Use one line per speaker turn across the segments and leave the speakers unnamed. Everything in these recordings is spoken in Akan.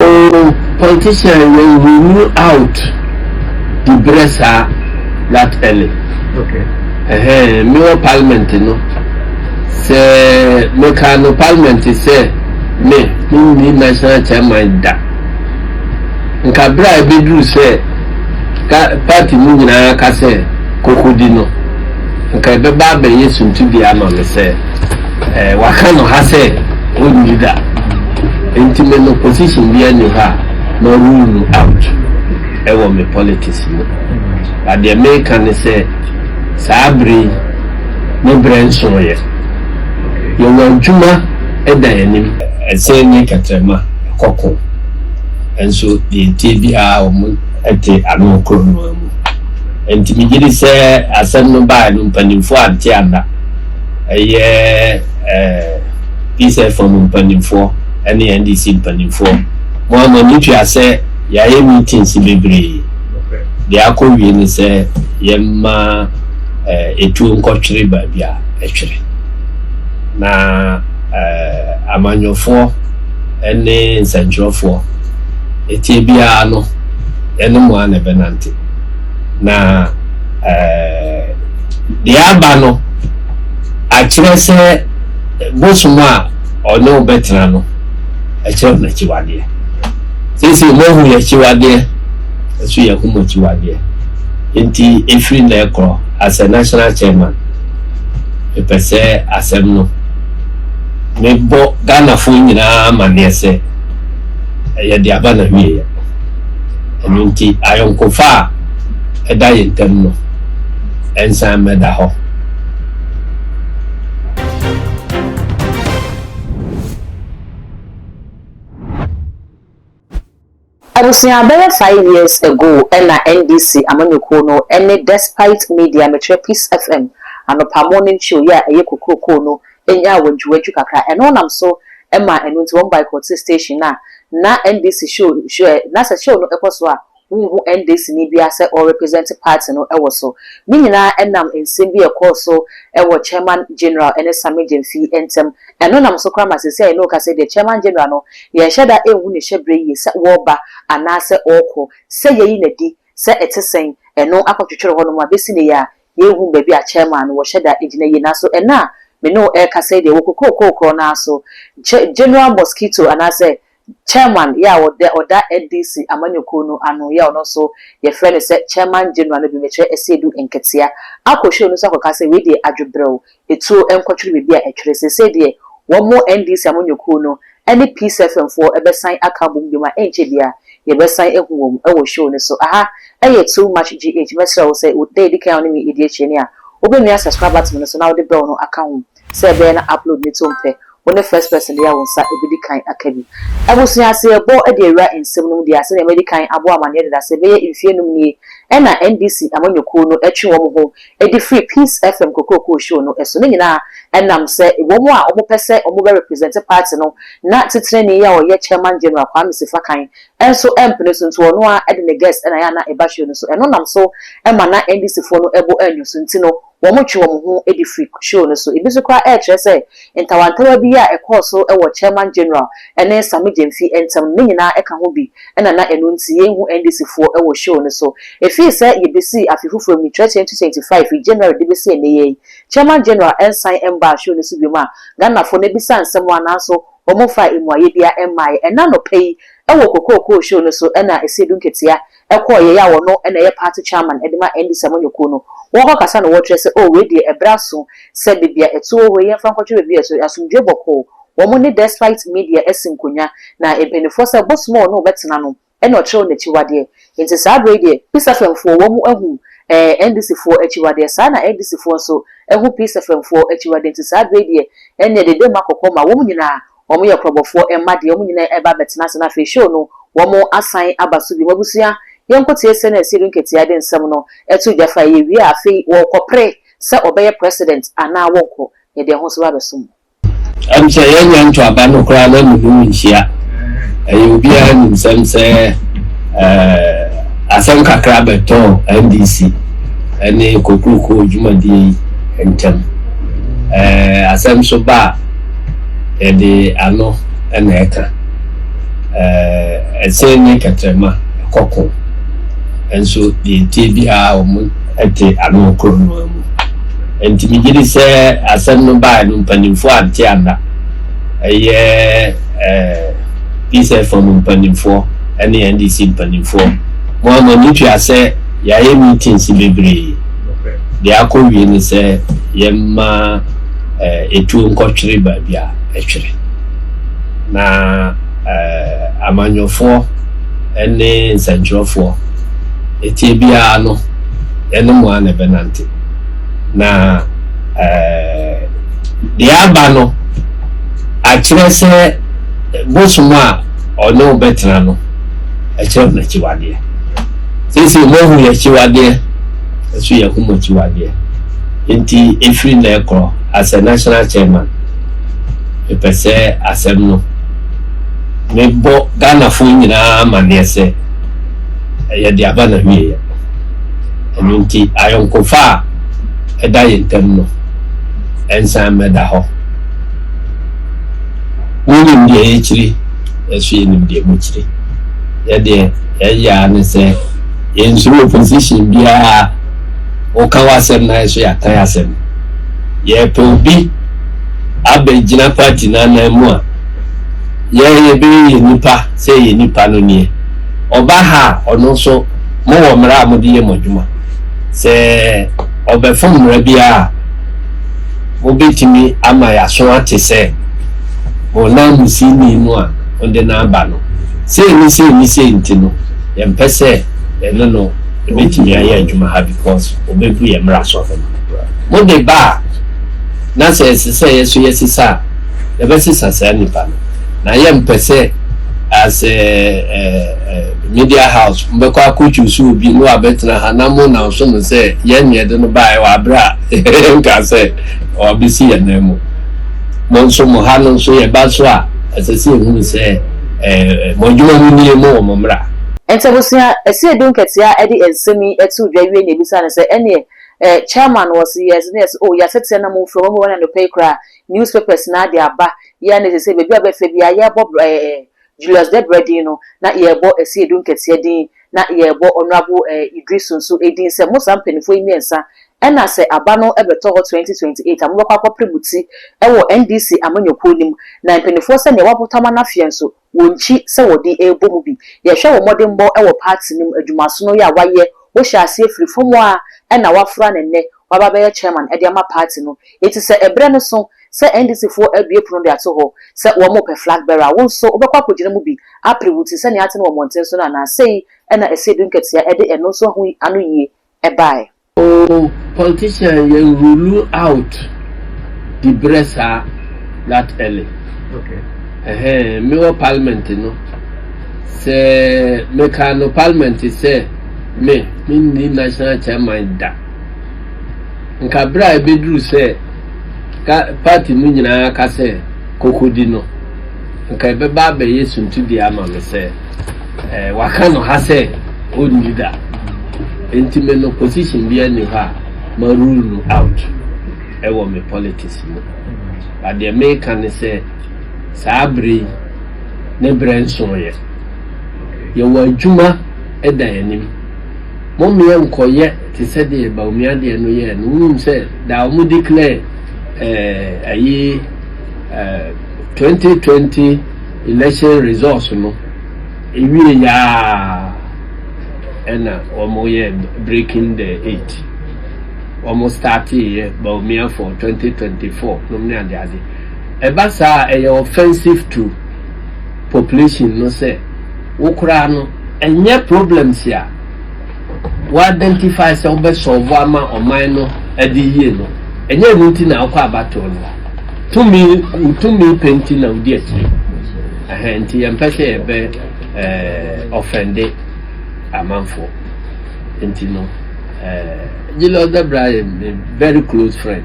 Oh politician wei he knew out di brɛ saa that early
ɛhɛn me wɔ parliament
no sɛ me ka no parliament sɛ me me nni national chairman da nka brɛ a ɛbɛduru sɛ ka party mu nyinaa ka sɛ koko di no. Nka ɛbɛba abɛyɛ suntidua ama me sɛ, eh, wɔaka no ha sɛ ɔrenni da. Enti me no position biara nni hɔ a ma rule out wɔ me politics mu. But deɛ meka ne sɛ, saa berɛ yi, ne berɛ nsoeɛ. Yɛwɔ adwuma da yɛn anim. Ɛsɛn ne kɛtrɛma kɔ ko. Nso deɛ ɛteɛ biara wɔte ano koro no ara mu. Enti megye di sɛ asɛm no bae no mpanimfoɔ ante anna. Ɛyɛ eh, PCFM mpanimfoɔ ne NDC mpanimfoɔ. Mo a mo ani tua sɛ yɛayɛ meetings bebree. Deɛ akɔ wie ne sɛ yɛmma eh, etuo nkɔtwere baabi a ɛtwere. Na eh, amanyɔfoɔ ne nsɛntwerɛfoɔ etie biara no yɛne mo ara na ɛbɛnante. Na deɛ aba no, akyerɛ sɛ bosom a ɔne wo bɛtena no, ɛkyerɛ wo n'akyiwadeɛ. Seesei moahu yɛn akyiwadeɛ, nso yɛahu mo akyiwadeɛ. Nti ɛfiri na ɛkɔ as a national chairman, mepɛ sɛ asɛm no mebɔ Ghanafoɔ nyinaa amaneɛ sɛ yɛde aba na wieɛ. Ɛno nti, ayɔnkofa a ɛda yɛn ntam no, ɛnsan mmɛda hɔ.
Abusua bɛyɛ five years ago na NDC amanyɔkuo no ne Despite Media mekyerɛ Peace FM anɔpa morning show yi a ɛyɛ kokurokoo no nyaa wɔn dwumadwi kakra, ɛno nam so maa ɛno nti wɔn boycotee station no a na NDC show show ɛ, na sɛ show no kɔ so a wonhu NDCni biara sɛ ɔrepresent party no wɔ so. Ne nyinaa nam nsɛm bi a ɛkɔɔ so wɔ Chairman General ne Sammy Gyamfi ntam, ɛno nam so koraa ma seesei yɛne wo kasa yi deɛ Chairman General no yɛnhyɛ da nhu ne hyɛberɛ yie sɛ ɔreba anaasɛ ɔrekɔ, sɛ yɛyi no adi sɛ ɛte sɛn, ɛno akɔtwetwere hɔnom a bɛsi nnɛ yi a yennhu baabi a chairman no wɔ hyɛ da gyina yie nanso ɛnnɛ a me ne wo rekasa yi deɛ wɔ kokookoo korɔ no ara so General Mosquito anaasɛ Chairman yɛ a ɔda ɔda NDC amanyɔkuo no ano yɛ a ɔno nso yɛfrɛ no sɛ Chairman General no bi mekyerɛ ɛsɛ yɛdu nketea akɔhwɛ no nso akɔka sɛ wei deɛ adwebrɛw etuo nkɔtwere biribi a ɛtwere. Seesei deɛ, wɔn mo NDC amanyɔkuo no ne Peace FM foɔ bɛsan aka abom bio ma ɛnkyɛ biara yɛbɛsan ahu wɔn wɔ show no so. Aha yɛ too much GH, mɛsrɛ wo sɛ wo da a edi kan a wo ne me redi akyire no a, wobɛmia subscribe button no so na wode bɛw no aka ho sɛ ɛbɛyɛ na upload no tom pɛ. Wo ne first person deɛ a wo nsa bɛdi kan aka bi. Abusua aseɛbɔ de awura nsɛm no mu deɛ a sɛdeɛ madi kan abɔ amaneɛ deda sɛ bɛyɛ mfeɛ num nie na NDC amanyɔkuo no twe wɔn ho di firi Peace FM Kokroko show no so ne nyinaa ɛnam sɛ wɔn a wɔpɛ sɛ wɔbɛ represent party no na titirani a ɔyɛ Chairman General Kwame Sefakan nso mpene so nti ɔno ara de ne guest na ɛyɛ a na ɛba show no so ɛno nam so ma na NDC foɔ no bo nyɔ so nti no Wɔtwe wɔn ho di firi show no so. Ebi nso koraa rekyerɛ sɛ ntawantawa bi a ɛkɔɔ so wɔ Chairman General ne Sammy Gyamfi ntam no, ne nyinaa ka ho bi na na ɛno nti yɛnhu NDCfoɔ wɔ show no so. Efiri sɛ yɛbesii afe foforɔ mu yi, kyerɛ twenty twenty five firi January de besi ɛnnɛ yi ara yi, Chairman General nsan mmbaa show no so biom a, Ghanafoɔ no abisa nsɛm a nanso wɔmfaa mmuaeɛ biara mmaeɛ. Ɛnnɛ anɔpa yi wɔ Kokookoo show no so na ɛsiedu nketea ɛkɔɔ yɛɛ a wɔno ɛna ɛyɛ party chairman ɛde ma NDC amanyɔkuo no wɔkɔ kasa na wɔkyerɛ sɛ oh wei deɛ ɛbrɛ aso sɛ baabi a ɛtoɔ wei yɛmfa nkɔkyerɛ baabi a ɛtoɔ asomdwoe bɔkɔɔ wɔn ne despite media asi nkonwa na mpaninfoɔ sɛ bosom a wɔne wo bɛtena no ɛna ɔkyerɛ wo nakyiwadeɛ nti saa berɛ yi deɛ Peace FM foɔ wɔn ahu ɛɛ NDC foɔ akyiwadeɛ saa na NDC foɔ nso ahu Peace FM foɔ akyiwadeɛ nti saa berɛ yi deɛ ɛneɛ dede mma kɔkɔ ma wɔn nyinaa wɔn yɛ korɔbɔfoɔ mma deɛ, wɔn nyinaa ɛreba abɛtena ase na afei show no wɔn asan aba so biom abusua yɛnkɔ tie sɛnea Asiidu Nketia de nsɛm no ɛto dwa faeɛ yɛ wie a afei ɔɔkɔ pere sɛ ɔbɛyɛ president anaa wɔnkɔ yɛde ɛho nsɛm abɛso mo. Ɛm sɛ
yɛn nyɛ ntoaba no koraa na ne ho nhyia ɛyɛ obiara nim sɛm sɛ ɛɛ asɛm kakra bɛtɔɔ NDC ɛne kokroko dwumadie yi ntɛm ɛɛ asɛm so ba a. yɛde ano na ɛka. Ɛse ne kɛtrɛma kɔ ko nso deɛ ɛteɛ biara wɔte ano koro no ara mu. Nti megye di sɛ asɛm no baeɛ no mpanimfoɔ ante anna. Ɛyɛ PCFM mpanimfoɔ ne NDC mpanimfoɔ mo ara mo ani tua sɛ yɛayɛ meetings bebree. Deɛ akɔwie ne sɛ yɛmma eh, etuo nkɔtwere baabi a ɛtwere. Na eh, amanyɔfoɔ ne nsɛntwerɛfoɔ, etie biara no, ɛne mo a na ɛbɛnante. Na eh, deɛ aba no, akyerɛ sɛ bosom a ɔne wo bɛtena no, ɛkyerɛ ho akyiwadeɛ. Sɛsɛ moahu yɛ akyiwadeɛ. so yɛ hom ekyiwadeɛ. Ntsi efir ndɛ rokɔ as a national chairman, mepɛ sɛ asɛm no mebɔ Ghanafoɔ nyina ara amaneɛ sɛ yɛde aba n'awieɛ. Ɛno nti ayɔnkofa a ɛda yɛn ntam no nsan mmɛda hɔ. Monim deɛ yɛkyiri, yɛso yɛnim deɛ mokyiri. Yɛdeɛ yɛyɛ ara ne sɛ. Yɛnsuro opposition biara, woka w'asɛm na yɛ nso yɛaka yɛ asɛm. Yɛpɛ obi abɛgyina party no anan mu a, yɛ yɛbɛyɛ yɛ nipa sɛ yɛ nipa no nie. Ɔba ha a, ɔno nso mowɔ mmara a mode yɛ mo adwuma. Sɛ ɔbɛfom mmara biara a, mobɛtumi ama yɛaso ate sɛ mo nanmusini no a mode no aba no, sei ne sei ne sei nti no, Yɛmpɛ sɛ yɛne no bɛtumi ayɛ adwuma ha because ɔbɛbu yɛn mmara so. Mode ba a, na sɛ ɛsɛ sɛ yɛn nso yɛsesa a, yɛbɛsesa saa nipa no. Na yɛmpɛ sɛ as a media house mobɛkɔ akɔ choose obi na wabɛtena ha na monanso no sɛ yɛn na yɛde no baeɛ wɔ aberɛ a nka sɛ wabɛsi yɛn nan mu. Mo nso mo ha no nso yɛba so a, ɛsɛ sɛ yɛhunu sɛ Eh, mo adwuma no nie, mo wɔ mo mmara. Enti abusua,
ɛsɛ yɛdu nkɛtea ɛde nsɛm yi ɛto dwa wie na ɛbisa no sɛ, ɛneɛ eh, Chairman wɔse yes, ne yɛse oh, yɛatetea na mo mfrɛ wɔmma wɔn anɔpa yi koraa, news papers naa de aba, yɛa ne sesei baabi a bɛfɛ biara yɛbɔ eh, Julius Debrɛ din no na yɛbɔ ɛsɛ yɛdu nkɛtea din Na yɛrebɔ Honourable eh Iddrisu nso din sɛ mo saa mpaninfoɔ yi mmiɛnsa ɛna sɛ aba no bɛtɔ hɔ twenty twenty eight a mobɛkɔ akɔpere mo ti wɔ NDC amanyɔkuo no mu na mpaninfoɔ sɛdeɛ wɔabotam anafeɛ nso wɔnkyi sɛ wɔde rebɔ mu bi. Yɛhwɛ wo mmɔdenbɔ wɔ party no mu, adwumasono yɛ a wayɛ, wohyɛɛ aseɛ firi fam a ɛna wafra na ɛnnɛ waba abɛyɛ chairman de ama party no, enti sɛ ɛberɛ no so sɛ NDC foɔ abue pono de ato hɔ sɛ wɔpɛ flag bearer a, wo nso wobɛkɔ akɔgyina mu bi apere wo ti sɛnea ate no wɔ mmɔnten so no anaa? Sei na ɛsɛ du nkatia ɛde ɛno nso ho ano yie ɛbaeɛ. Oh
politician yɛ rule out di berɛ saa that early ɛhɛn me wɔ parliament no sɛ me ka no parliament sɛ me me nni national chairman da. nka bere a ebeduru sɛ ka party no nyinaa ka sɛ kokodi no, nka ɛbɛba abɛyɛ suntidua ama me sɛ eh, waka no ha sɛ ɔnni da. Enti me no position bi ani hɔ a ma rule no out ɛwɔ me politics mu. Ba deɛ meka ne sɛ saa bere yi ne berɛ nsoeɛ. Yɛwɔ adwuma ɛda yɛn anim. Mommea nkɔyɛ te sɛ deɛ Bawumia deɛ no yɛɛ no. Wonim sɛ da a wɔn declare eh, ayi eh, 2020 election results no, ewie yaa ɛna wɔn yɛ breaking the eight. Wɔn startee yɛ Bawumia for 2024 nom ne adeade. Ɛba saa a ɛyɛ offensive to population no sɛ Wo koraa no ɛnyɛ problems a wo identify sɛ wo bɛ solve ama ɔman no ɛde yie no ɛnyɛ ɛno nti na wokɔ abatoɔ no tumi wo tumi pɛ nti na wodi akyire ɛhɛn nti yɛn pɛ sɛ yɛbɛ ɛɛ ɔfɛnde amanfoɔ nti no ɛɛ Julius Dabra yɛ very close friend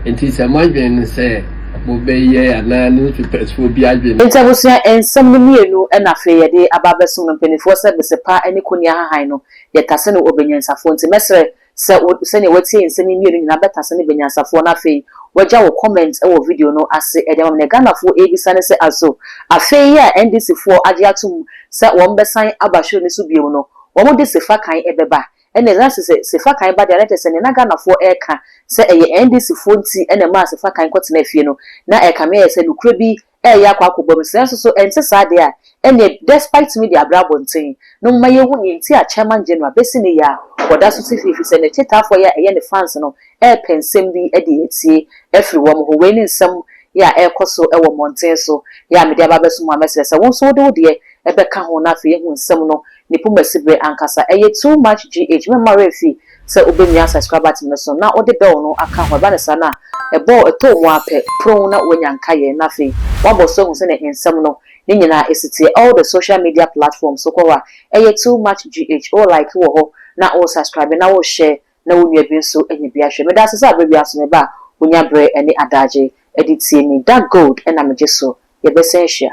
nti sɛ mo adwene no sɛ. Mobɛyɛ anaa ne mpepɛsoɔ bi adwene. Enti abusua nsɛm
no mmienu na afei yɛde aba abɛsom no mpaninfoɔ sɛ Besepa ne Koni Ahahan no yɛtase no Obenyansafoɔ nti mɛsrɛ sɛ wo sɛnea watie nsɛm yi mmienu nyinaa bɛtase no Obenyansafoɔ na afei wagya wo comment wɔ video no ase de ama me nea Ghanafoɔ ɛrebisa ne sɛ aso afei yi a NDC foɔ agye atom sɛ wɔn bɛsan aba hyire no so bio no wɔn de Sefa kan bɛba Ɛnneɛ na sɛ Sefakan ba deɛ a na kyerɛ sɛ nea na Ghanafoɔ reka sɛ ɛyɛ NDC foɔ nti na ɛmaa Sefakan kɔtenaa fie no na ɛrekame ayɛ sɛ nokorɛ bi reyɛ akɔ akɔbam. Sɛ nso so ɛnte saa deɛ a, ɛnneɛ despite me deɛ abrɛ abɔnten no momma yɛnhu nea nti a Chairman General bɛsi nnɛ yi a ɔda so te fie firi sɛ n'akyitaafoɔ yi a ɛyɛ ne fans no repɛ nsɛm bi de atie afiri wɔn hɔ. Wei ne nsɛm yi a ɛrekɔ so wɔ mmɔnten so yi a mede aba abɛso mo a mɛsrɛ sɛ wo nso wode wo deɛ bɛka ho na afei yɛahu nsɛm no ne poma si bere ankasa ɛyɛ too much GH me mma werɛ fi sɛ wobɛmia subscriber te no so na wode bell no aka ho ɛba no saa no a ɛbɔɔ ɛtɔɔ mu ara pɛ pronn na wanya nkaeɛ na afei wabɔ so ahu sɛnea nsɛm no ne nyinaa ɛsi teɛ all the social media platforms wokɔ hɔ a ɛyɛ too much GH wo like wɔ hɔ na wo subscribe na wo share na wo nua bi nso anya bi ahwɛ. Meda ase sɛ aberɛ biara nso meba a wonya berɛ ne adagye de tie me. Da Gold na megye so. Yɛbɛsan ahyia.